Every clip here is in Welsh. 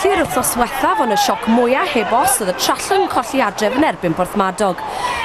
colli'r wythnos wethaf ond y sioc mwyaf heb os oedd y trallwng yn colli adref yn erbyn Porthmadog.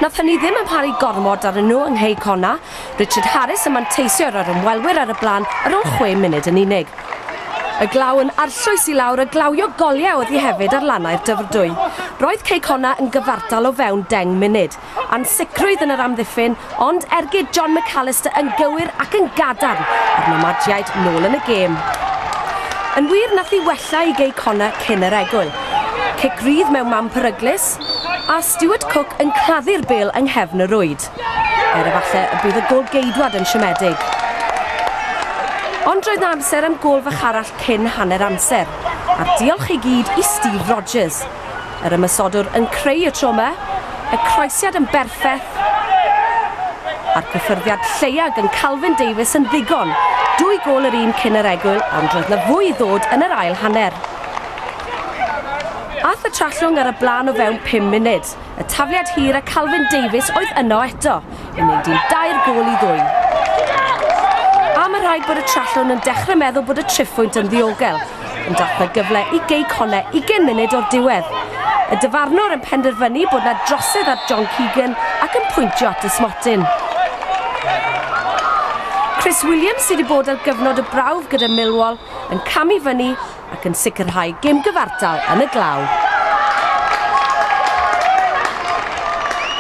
Nath hynny ddim yn paru gormod ar nhw yng Nghei Cona, Richard Harris yn manteisio ar yr ymwelwyr ar y blaen ar ôl chwe munud yn unig. Y glaw yn arllwys i lawr a glawio goliau oedd hi hefyd ar lannau'r Dyfrdwy. Roedd Cei Connah yn gyfartal o fewn deng munud. Ansicrwydd yn yr amddiffyn, ond ergyd John McAllister yn gywir ac yn gadarn a'r Nomajiaid nôl yn y gêm. Yn wir, nath hi wella i Gei Connah cyn yr egwyl. Cic rydd mewn man peryglus, a Stuart Cooke yn claddu'r bêl yng nghefn y rwyd. Er efallai y bydd y gôl geidwad yn siomedig. Ond roedd na amser am gôl fach arall cyn hanner amser, a'r diolch i gyd i Steve Rogers. Yr ymosodwr yn creu y tro yma, y croesiad yn berffeth, a'r cyffyrddiad lleiaf gan Calvin Davies yn ddigon. Dwy gôl yr un cyn yr egwyl, ond roedd na fwy i ddod yn yr ail hanner. Aeth y Trallwng ar y blaen o fewn pum munud. Forest. Y tafliad hir a Calvin Davies oedd yno eto i wneud un dair gôl i ddwy. A mae rhaid bod y Trallwn yn dechrau meddwl bod y triphwynt yn ddiogel, ond dath na gyfle i Gei Conne 20 munud o'r diwedd. Y dyfarnwr yn penderfynu bod na drosedd ar John Keegan ac yn pwyntio at y smotyn. Chris Williams sydd wedi bod ar gyfnod y brawf gyda Millwall yn camu fyny ac yn sicrhau gêm gyfartal yn y glaw.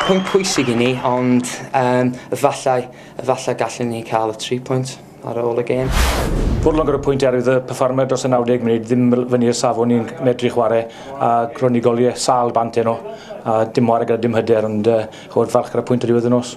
Pwynt pwysig i ni ond um, efallai, efallai gallwn ni cael y tri pwynt ar ôl y gêm. Fodlon gyda pwynt erwydd y perfformer dros y 90 munud ddim fyny i'r safon ni'n medru chwarae a ro'n ni goliau sal bant yno a dim ware gyda dim hyder ond uh, chod falch gyda pwynt ar ddiwedd y nos.